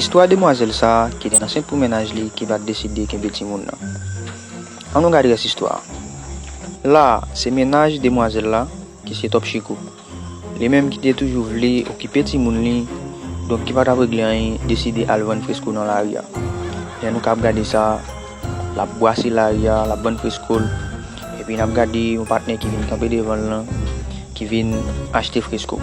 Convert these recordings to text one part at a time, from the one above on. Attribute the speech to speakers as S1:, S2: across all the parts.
S1: Istwa demwazèl sa a ki te ansent pou mennaj li ki pa t deside kenbe timoun nan. An nou gad rès istwa a. La a, se mennaj demwazèl la ki se Top Chico. Li menm ki te toujou vle okipe timoun li, donk ki pa t ap regle anyen, deside al vann fresko nan lari a. Lè nou k ap gade sa, l ap bwase lari a, l ap vann fresko l. Epi n ap gade yon patnè ki vin kanpe devan l lan, ki vin achte fresko.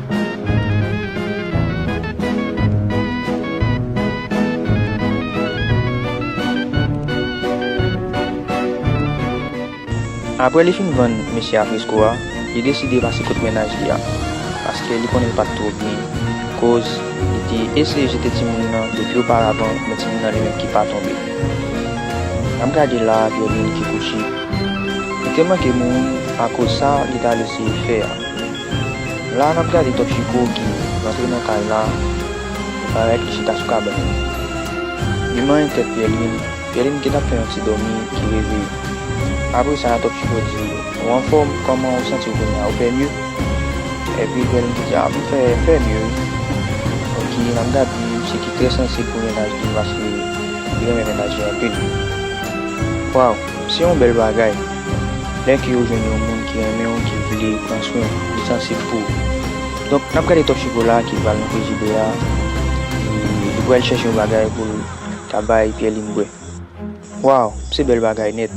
S1: Aprè li fin vann mesye afresko a, li deside pase kot mennaj li a, paske li konnen l pa t twò byen, koz li te eseye jete timoun nan depi oparavan men timoun nan li menm ki pa tonbe. N ap gade la a Pierre-Louis Nikikuchi, li te manke mouri akoz sa li t al eseye fè a. La nap gade Top Chico ki rantre nan kay la, li parèt li chita sou kabann li. Li manyen tèt Pierline, Pierline ki tap fè yon ti dòmi ki reveye. Apre sa Top Chico di, ou anfòm, kòman ou santiw kounya, ou fè mye? Epi Pierline ki di, ah m fè m fè mye wi. Ok, nap gade yon misye ki trè sansib pou mennaj li paske li renmen mennaj li anpil. Waw, se yon bèl bagay. Lè ke ou jwenn yon moun ki renmen ou ki vle pran swen ou, li sansib pou ou. Donk nap gade Top Chocolat ki pral nan frijidè a e li pral chèche yon bagay pou l ta bay Pierline bwè. Waw se bèl bagay nèt.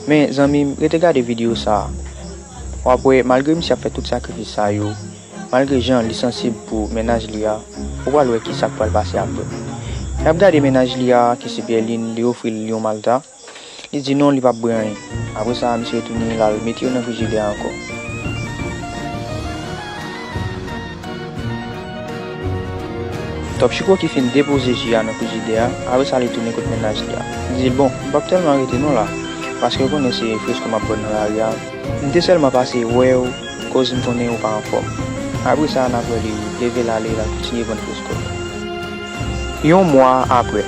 S1: Men zanmim rete gade video sa a wap wè malgre misye ap fè tout sakrifis sa yo, malgre jan li sansib pou mennaj li a, ou pral wè kisak pral pase aprè. Nap gade mennaj li a ki se Pierline li ofri l yon malta. Li di non li pap bri anyen. Apre sa misye retounen l al mete yo nan frijidè a ankò. Top Chiko ki fin depoze ji a nan frijidè a, apre sa li tounen kot mennaj li a. Li di l bon, m pap tèlman rete non la, paske ou konnen se fresko m ap pran nan lari a. M te sèlman pase wè ou koz m konnen ou pa anfòm. Apre sa n ap wè li leve l ale l al kontinye vann fresko l. Yon mwa apre.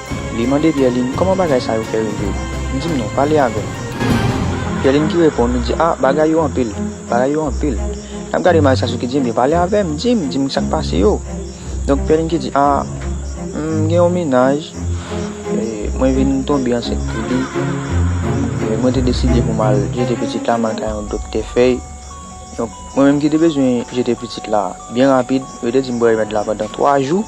S1: Li mande Pyèlin, Kòman bagay sa yo fè rive? Di m non, pale avè m. Pyèlin ki reponn, li di, A, bagay yo anpil, bagay yo anpil. N ap gade Maestras yo ki di, Enben, pale avè m, di m, di m sa k pase yo. Donk, Pyèlin ki di, A, m gen yon mennaj, mwen vin tonbe ansent pou li, mwen te deside pou m al jete pitit la, m al kay yon doktè fèy. Donk, mwen menm ki te bezwen jete pitit la byen rapid, yo te di m bwè remèd la pandan twa jou,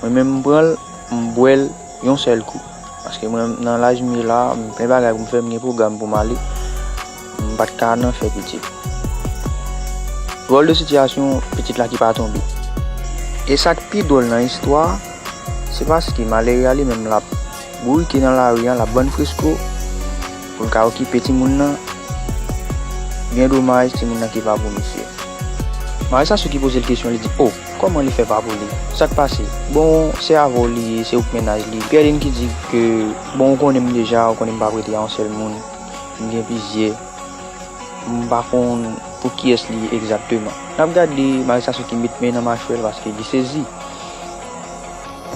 S1: mwen menm m pran l. m bwè l yon sèl kou paske mwen nan laj m ye la m gen plen bagay pou m fè m gen pwogram pou m ale m pat ka nan fè pitit dwòl de sitiyasyon pitit la ki pa tonbe e sak pi dwòl nan istwa a se paske malere a li menm l ap bourike nan lari an l ap vann fresko pou l ka okipe timoun nan byen domaj timoun nan ki pa pou misye maresasyo ki poze l kesyon li di o. Kòman li fè pa pou li? Sak pase? Bon se avè w li ye se ou k mennaj li. Pierline ki di ke bon ou konnen m deja ou konnen m pa prete a yon sèl moun m gen plizyè m pa konn pou kiyès li ye egzakteman. Nap gade Marie Sassou ki met men nan machwè l paske li sezi.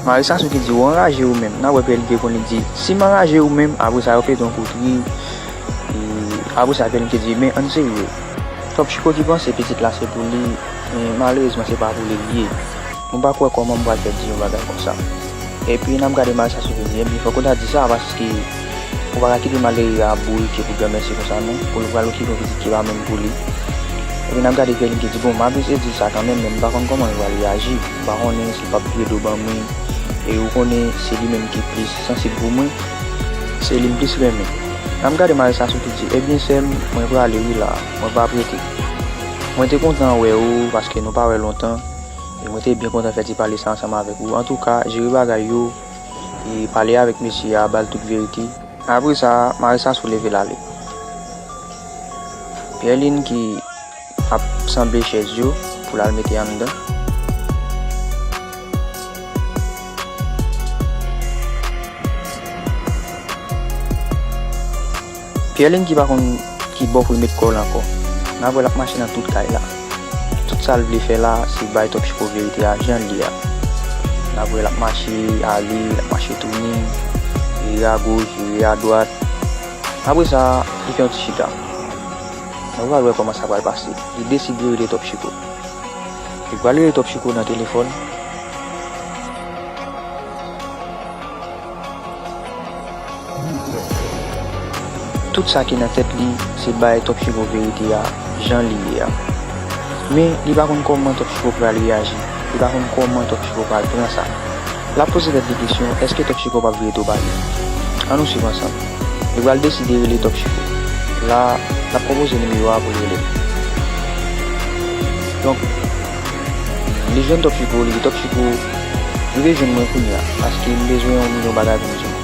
S1: Mari Sassou ki di ou anraje ou menm. Nap wè PLD te konn li di si m anraje ou menm apre sa yo pete yon kout ri e apre sa PLD te di men ann serye. Twòp chiko ki panse pitit la se pou li men malerezman se pa pou li li ye. Mwen pa kwè kòman m pral fè di yon bagay konsa. Epi nap gade Mari Sassou vin di ebyen fòk ou ta di sa paske ou pa ka kite malere a bourike pou granmèsi konsa non pou l pral okipe yon pitit ki pa menm pou li. Epi nap gade PLD ki di bon m abize di l sa kanmenm men m pa konn kòman yo pral reyaji. M pa konnen pap vye do ban mwen e ou konnen se li menm ki plis sansib pou mwen se li m plis renmen nan m gade Marissa sou ki di ebyen sèm mwen prale wi la mwen pap rete mwen te kontan wè ou paske nou pa wè lontan e mwen te byen kontan fè ti pale sa ansanm avèk ou antouka jere bagay yo e pale avèk mesye a bal tout verite. Apresa Marissa sou leve l ale Pierline ki. Ap sanble chèz yo pou l al mete anndan. Pierline ki pa konn ki bò pou l met kò l ankò. N ap wè l ap mache nan tout kay la. Tout sa l vle fè la se bay Top Chiko verite a jan l ye a. N ap wè l ap mache ale, l ap mache tounen, vire agoch, vire adwat. Apre sa, li fè yon ti chita. Nou pral wè kòman sa pral pase. Li deside rele Top Chiko. Li pral rele Top Chiko nan telefòn. Tout sa ki nan tèt li, se bay Top Chiko verite a jan li ye a. Men, li pa konn kòman Top Chiko pral reyaji. Li pa konn kòman Top Chico pral pran sa. Lap poze tèt li kesyon èske Top Chico pap vire do ba li. An nou swiv ansanm. Li pral deside rele Top Chico. La, lap konpoze nimewo a pou l rele l. Donk, li jwenn Top Chico, li di Top Chico, rive jwenn mwen kounye a, paske m bezwen yon milyon bagay pou m di w.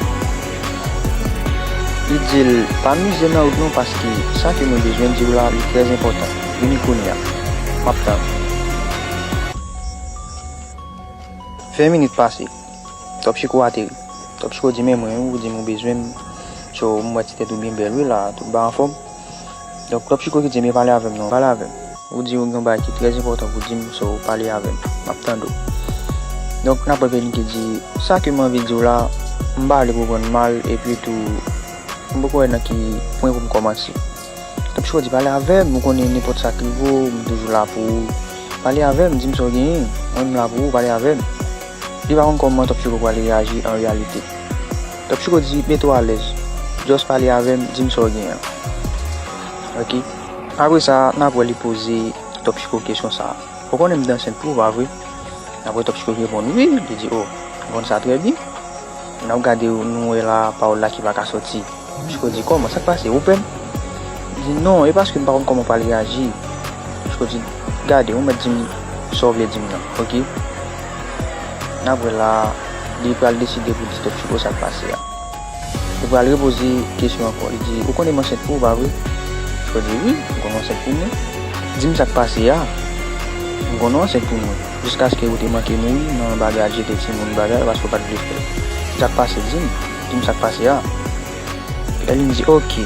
S1: Li di l, pa mize nan wout non paske sa ke mwen bezwen di w la li trè enpòtan. Vini kounya. Map tann. 20 minit pase. Top Chiko ateri. Top Chiko di men mwen wi ou di m ou bezwen m Cho m wè ti tèt ou byen bèl wi la a tout ba anfòm. Donk Top Chiko ki di men pale avè m non. Pale avè m. Ou di ou gen yon bagay ki trè enpòtan pou di m so pale avè m. Map tande w. Donk n ap wè Vini ki di sa ke m anvi di w la m pa vle pou w pran l mal epi tou m poko wè nan ki pwen pou m kòmanse. Tanpri chòdi pale avèm ou konnen nenpòt sak rive w m toujou la pou ou pale avèm dim sa w genyen mwen m la pou ou pale avèm li pa konn kòman Top Choco pral reyaji an reyalite Top Choco di mete w alèz just pale avèm dim sa w genyen an ok. Apre sa nap wè li poze Top Choco kesyon sa ou konnen m t ansent pou ou pa vre nap wè Top Choco reponn wi li di oh m konn sa trè byen nap gade nou wè la pawòl la ki paka sòti. Michko di, Kòman? Sa k pase? Ou pè m? Li di, Non, e paske m pa konn kòman w pral reyaji. Michko di, Gade, ou mèt di m sa w vle di m nan, oke. N ap wè la a. Li pral deside pou l di tèt Chiko sa k pase a. Li pral repoze kesyon ankò. Li di, Ou konnen m ansent pou ou, pa vre? Michko di, Wi, m konnen w ansent pou mwen. Di m sa k pase a. M konnen w ansent pou mwen. Jiskaske ou te manke mouri nan bagay al jete timoun bagay paske w pa t vle fè l. Sa k pase? Di m. Di m sa k pase a. Pèlin di, Ok,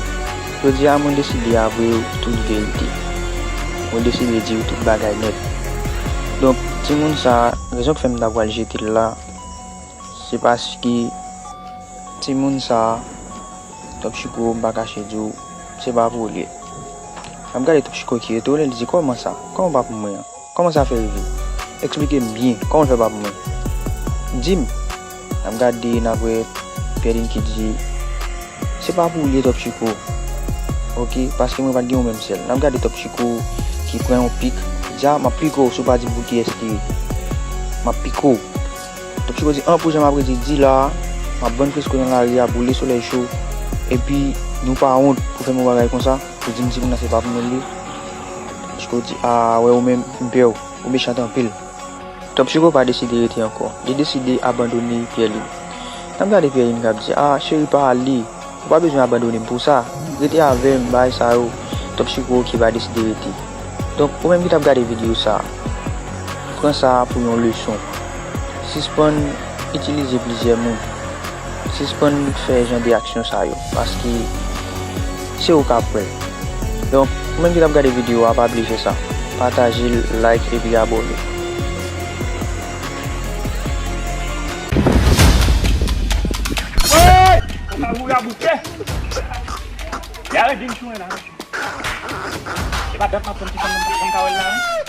S1: jodi a mwen deside avwe w tout verite. Mwen deside di w tout bagay nèt. Donk, timoun sa a, rezon k fè m ta pral jete l la, se paske timoun sa a, Tòp Chiko, m pa kache di w, se pa pou ou l ye. L ap gade Tòp Chiko ki etone, l di, Kòman sa? Kòman w pa pou mwen an? Kòman sa fè rive? Eksplike m byen, kòman l fè pa pou mwen? Di m! N ap gade, n ap wè, Pierline ki di, Se pa pou ou ye Top Chiko, ok, paske mwen pa t gen yon menm sèl. N ap gade Top Chiko ki pran yon pik, li di, A, m ap pike w si w pa di m pou kiyès li ye. M ap pike w. Top Chiko di, An, pou jan m ap rete di la a, m ap vann fresko nan lari a, boule solèy cho, epi nou pa wont pou fè m yon bagay konsa, pou di m ti moun nan se pa pou mwen l ye? Chiko di, Aa wè ou menm, m pè w, ou mechant anpil. Tanp Chiko pa deside rete ankò. Li deside abandone Pyèlin. N ap gade Pyèlin k ap di, Aa cheri pa ale, ou pa bezwen abandone m pou sa. Rete avè m, bagay sa yo. Tanp Chiko oke pa deside rete. Donk, ou menm ki t ap gade videyo sa, pran sa pou yon leson. Sispann itilize plizyè moun. Sispann fè jan de aksyon sa yo paske se ou kap wèl donk ou menm ki tap gade video a pa bliye fè sa patajel like epi abone.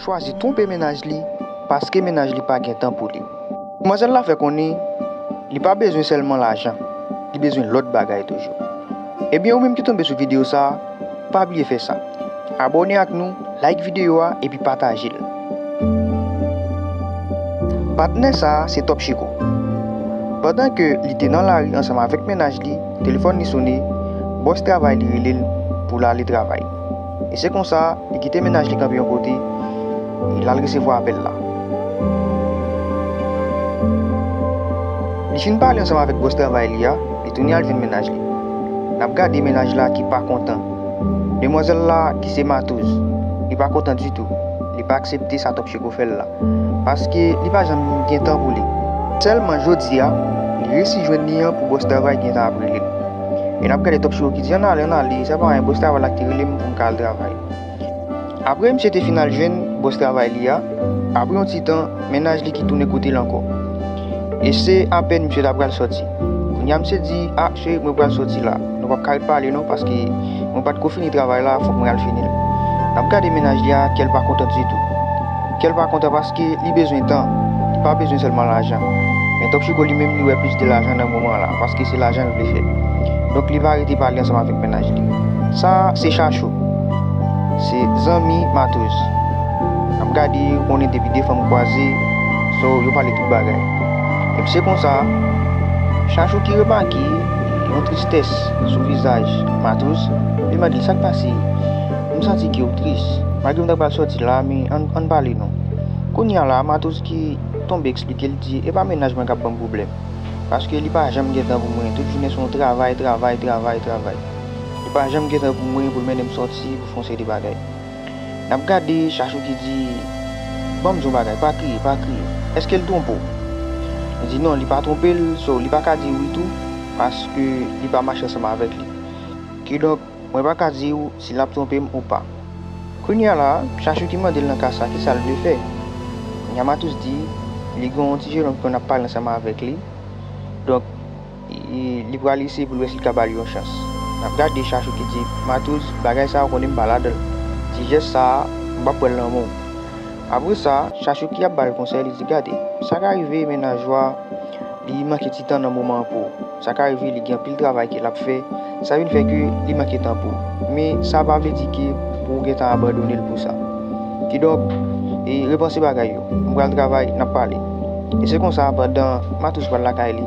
S1: chwazi twonpe mennaj li paske mennaj li pa gen tan pou li. Manzèl la fè konnen li pa bezwen sèlman lajan, li bezwen lòt bagay toujou. Ebyen ou menm ki tonbe sou videyo sa, pa bliye fè sa, abòne ak nou, like videyo a epi pataje l. Patnè sa se Top Chiko. Pandan ke li te nan lari ansanm avèk mennaj li, telefòn li sone, bòs travay li rele l pou l ale travay. E se konsa, li kite mennaj li kanpe yon kote, e l al resevwa apèl la. Li fin pale ansanm avèk bòs travay li a, li tounen al jwenn mennaj li. N ap gade mennaj la ki pa kontan. Demwazèl la, ki se matouz, li pa kontan ditou, li pa aksepte sa Top Cheko fè l la. paske li pa janm gen tan pou li. Sèlman jodi a, li resi jwenn li an pou bòs travay gen tan ap rele l. E n ap gade Top Chiro ki di, Ann ale, ann ale, se pa anyen, bòs travay la ki te rele m pou m ka al travay. Apre misye te fin al jwenn bòs travay li a, apre yon ti tan, mennaj li ki tounen kote l ankò. E se apèn misye ta pral sòti. Kounya misye di, a cheri mwen pral sòti la, nou pap ka ret pale non paske mwen pat ko fini travay la fòk mwen al finil. Nap gade mennaj li a kèl pa kontan ditou. Kèl pa kontan paske li bezwen tan, li pa bezwen sèlman lajan. Men Top Chico li menm li wè plis de lajan nan moman la paske se lajan l vle fè. Donk li pa rete pale ansanm avèk mennaj li. Sa se Chachou. Se zanmi Matoz. Nap gade ou konnen depi 2 fanm kwaze so yo pale tout bagay. Epi se konsa chak jou ki remake yon tristès sou vizaj Matos li mande l sak pase? M santi ke ou tris malgre m ta pral sòti la men ann pale non. Kounya la Matos ki tonbe eksplike l di epa mennaj mwen kap banm pwoblèm paske li pa janm gen tan pou mwen tout jounen se yon travay travay travay travay li pa janm gen tan pou mwen pou l mennen m sòti pou fon seri de bagay. Nap gade chachou ki di, Ban m di yon bagay, pa kriye, pa kriye. Èske l twonpe w? Li di, Non, li pa twonpe l, so li pa ka di wi tou, paske li pa mache ansanm avèk li. Kidonk, mwen pa ka di w si l ap twonpe m ou pa. Kounye a la, chachou ki mande l nan ka sa a ki sa l vle fè. Kounye a Matous di, Li gen yon ti jenòm ki konn ap pale ansanm avèk li, donk, Li pral eseye pou l wè si l ka ba l yon chans. N ap gade Chachou ki di, Matouz, bagay sa a ou konnen m pa ladan l. Ti jès sa a, m pap pran l nan men w. Apre sa, Chachou ki ap ba l konsèy, li di, Gade, sa ka rive Menajwa li manke ti tan nan moman an pou ou. Sa ka rive li gen anpil travay ke l ap fè, sa vin fè ke li manke tan pou ou. Men, sa pa vle di ke pou ou gentan abandone l pou sa. Kidonk, repanse bagay yo. M pral travay, n ap pale. E se konsa, pandan Matouz pral lakay li.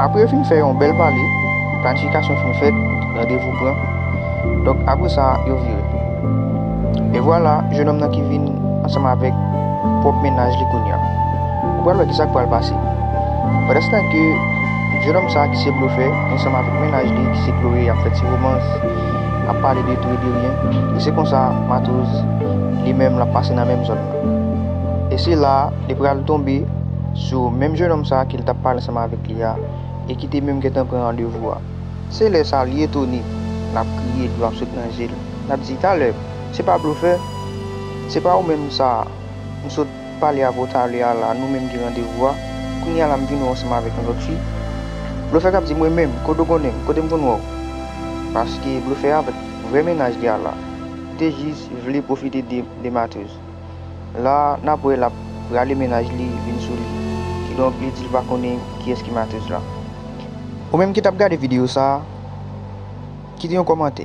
S1: Apre yo fin fè yon bèl pale, planifikasyon fin fèt, randevou pran. Donk, apre sa, yo vire. E vwala, jenòm nan ki vin ansanm avèk pwòp mennaj li kounye a. Ou pral wè ki sa k pral pase. Pandanstan ke jenòm sa a ki se blofè, ansanm avèk mennaj li ki se Chloé y ap fè ti romans, ap pale de tou e de ryen, e se konsa Matouz li menm l ap pase nan menm zòn nan. E se la a li pral tonbe sou menm jenòm sa a ke l t ap pale ansanm avèk li a e ki te menm gentan pran randevou a. Se lè sa a li etone, l ap kriye, dlo ap sot nan je l, l ap di, Talè, se pa blofè? Se pa ou menm sa a? M sot. pale avè w talè a la nou menm gen randevou a kounye a la m vin wè w ansanm avèk yon lòt fi blofè kap di mwen menm kote w konnen m kote m konn wè w paske blofè a avèk vrè mennaj li a la te jis vle pwofite de de Matheus la nap wè lap rale mennaj li vin sou li kidonk li di l pa konnen kiyès ki Matheus la ou menm ki tap gade videyo sa kite yon kòmantè.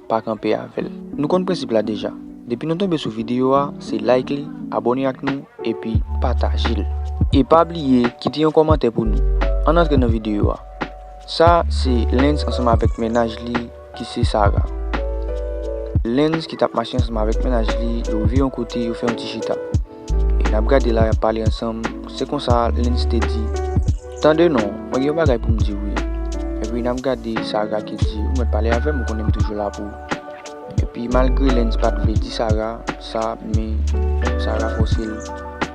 S1: pa kanpe avèl. Nou konn prensip la deja. Depi nou tonbe sou video a se like li, abone ak nou epi patajel. E pa bliye kite yon kòmantè pou nou. Ann antre nan video a. Sa se Lens ansanm avèk mennaj li ki se Sara. Lens ki tap mache ansanm avèk mennaj li yo rive yon kote yo fè yon ti chita. Y ap gade la, y ap pale ansanm. Se konsa, Lens te di, Tande non, mwen gen yon bagay pou m di w wi. Epi n ap gade, Sara ki di, Ou mèt pale avè m, ou konnen m toujou la pou ou. Epi malgre Lens pa t vle di Sara sa, men Sara fòse l,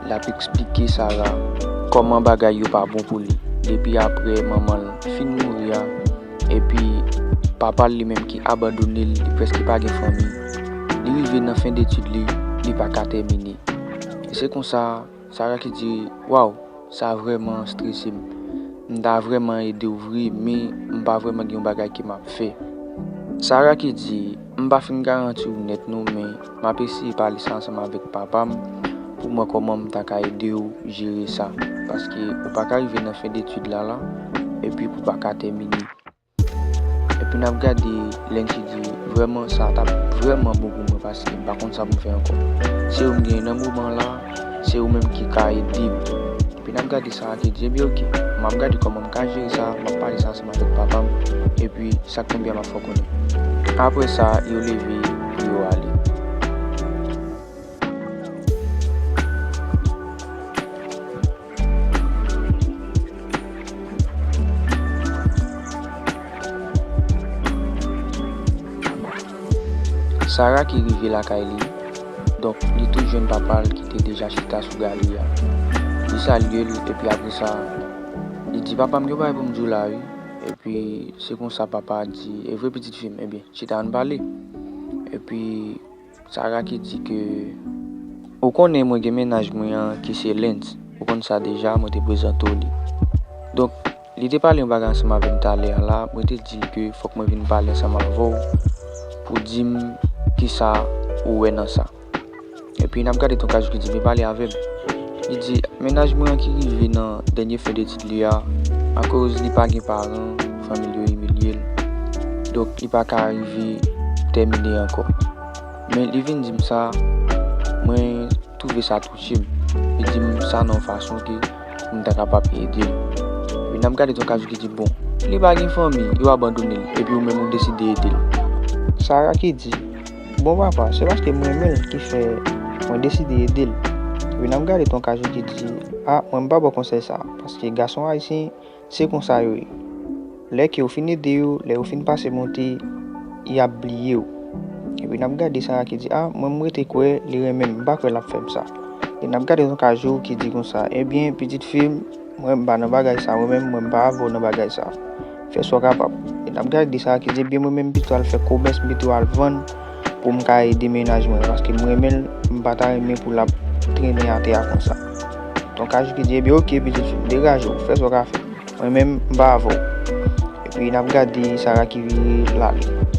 S1: l ap esplike Sara kòman bagay yo pa bon pou li depi apre manman l fin mouri a. Epi, papa l li menm ki abandone l, li prèske pa gen fanmi. Li rive nan fen detid li, li pa ka tèmine. E se konsa, Sara ki di, Waw, sa vrèman strese m. M ta vrèman ede w vre, men m pa vrèman gen yon bagay ke m ap fè. Sara ki di, M pa fin garanti w nèt non, men. M ap eseye pale sa ansanm avèk papa m pou m wè kòman m ta ka ede w jere sa. Paske ou pa ka rive nan fen detid la la epi pou pa ka tèmine. Epi n ap gade lè n te di vrèman sa t ap vrèman bon pou mwen paske m pa konn sa pou m fè ankò. Se ou m genyen nan moman an la, se ou menm ki ka ede m. Epi n ap gade sa a te di, Ebyen ok, m ap gade kòman m ka jere sa, m ap pale sa ansanm. Matant papa m, epi sa k tonbe a m ap fè w konnen. Apre sa, yo leve, yo ale. Sara ki rive lakay li, donk li tout jwenn papa l ki te deja chita sou galri a. Li salye l, epi apre sa. Li di papa m gen yon bagay pou m di w la wi epi se konsa papa a di evre pitit fi m ebyen chita ann pale epi Sara ki di ke ou konnen mwen gen mennaj mwen an ki se Lens ou konn sa deja mwen te prezante w li donk li te pale yon bagay ansanm avè m talè a la mwen te di l ke fòk mwen vin pale ansanm avè w pou di m kisa ou wè nan sa. Epi n ap gade ton Kajou ki di, Vin pale avè m. Li di, Mennaj mwen an ki rive nan dènye fen detid li a, akoz li pa gen paran, fanmi l yo imilye l, donk li pa ka rive tèmine ankò. Men li vin di m sa, mwen twouve sa touche m. Li di m sa nan yon fason ke pou m ta kapab ede l. Epi n ap gade ton Kajou ki di, Bon, li pa gen fanmi, yo abandone l, epi ou menm ou deside ede l. Sara ki di, Bon papa se paske m renmen l ki fè mwen deside ede l vin ap gade ton kajou ki di a mwen m pa baw konsèy sa paske gason ayisyen se konsa yo ye lè ke ou fin ede yo lè yo fin pase monte yap bliye w epi nap gade sara ki di a mwen m rete kwè li renmen m m pa kwè lap fè m sa vin ap gade ton kajou ki di konsa ebyen pitit fi m Mwen m pa nan bagay sa mwen menm mwen m pa avè w nan bagay sa fè sa w kapab e nap gade ki sa ki pi byen mwen menm m pito al fè komès m pito al vann pou m ka ede mennaj mwen paske m renmen l m pa ta renmen pou l ap trennen atè a konsa Ton Cajuki di ebyen ok pitit fi m degaje w fè sa w ka fè mwen menm m pa avè w epi nap gade Sara ki vire l ale.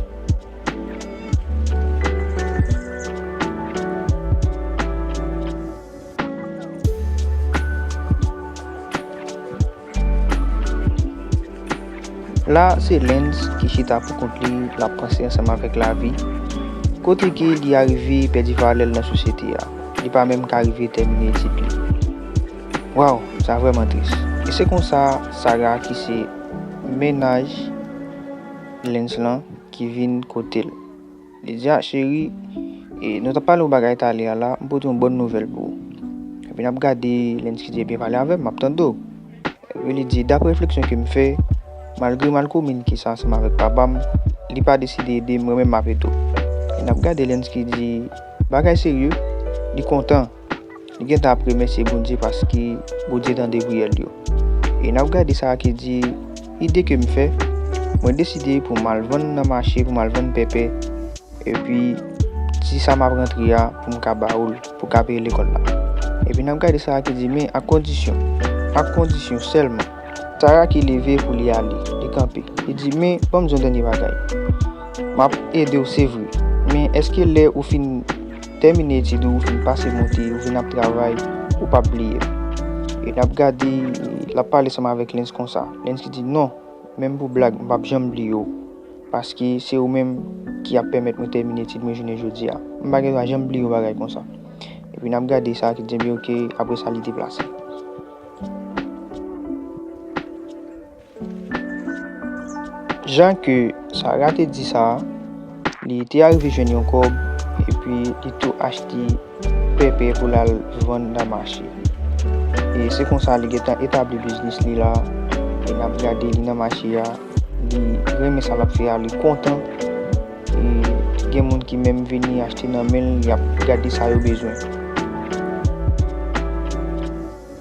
S1: La se Lens ki chita pou kont li, l ap panse ansanm avèk lavi, kote ke li arive pèdi valè l nan sosyete a, li pa menm ka rive tèmine etid li. Waw, sa vrèman tris. E se konsa Sarah ki se mennaj Lens lan ki vin kote l. Lydia cheri e nou tap pale yon bagay talè a la m pote yon bòn nouvèl pou ou epi nap gade lè n sitye byen pale avè m map tande w epi li di dapre refleksyon ke m fè malgre m al kominike sa ansanm avèk papa m li pa deside ede m mwen menm m ap ede w e nap gade lè n sitye di bagay serye li kontan. Nou gen tan ap remèsye Bondye paske Bondye tande priyè l yo. E n ap gade sa ki di, Ide ke m fè, Mwen deside pou m al vann nan mache, pou m al vann pèpè, epi ti sa m ap rantre a pou m ka ba ou l pou w ka peye lekòl la. Epi n ap gade sa ki di, Men, ak kondisyon, ak kondisyon sèlman. Sara ki leve pou li ale, li kanpe. Li di, Men, ban m di yon dènye bagay. M ap ede w se vre, men èske lè ou fin. Tèmine etid ou, ou fin pase monte, ou vin ap travay, ou pap bliye l. E n ap gade, l ap pale ansanm avèk Lens konsa. Lens ki di, Non, menm pou blag, m pap janm bliye w. Paske se ou menm ki ap pèmèt mwen tèmine etid mwen jounen jodi a. M pa gen dwa janm bliye yon bagay konsa. Epi n ap gade sa ki di, Ebyen oke, apre sa li deplase. Jan ke Sara te di sa, li te arive jwenn yon kòb epi li tou achte pèpè pou l al vann nan mache. E se konsa li gentan etabli biznis li la, e n ap gade li nan mache a, li renmen sa l ap fè a, li kontan, e gen moun ki menm vini achte nan men l, y ap gade sa yo bezwen.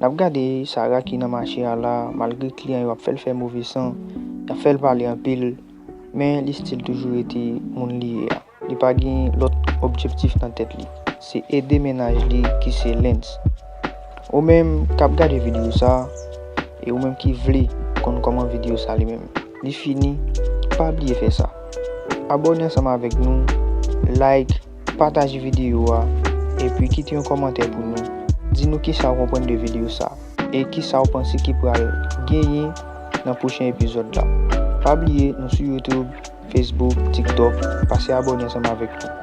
S1: Nap gade Sarah ki nan mache a la malgre kliyan yo ap fèl fè move san, yap fèl pale anpil men li stil toujou rete moun li ye a. Li pa gen lòt objektif nan tèt li se ede mennaj li ki se Lens. Ou menm kap gade video sa e ou menm ki vle konn kòman video sa li menm li fini pa bliye fè sa abòne ansanm avèk nou like, Pataje videyo a epi kite yon kòmantè pou nou. Di nou kisa ou konprann de videyo sa e kisa ou panse ki pral genyen nan pwochen epizòd la. Pa bliye nou sou YouTube, Facebook, TikTok, pase abòne ansanm avèk nou.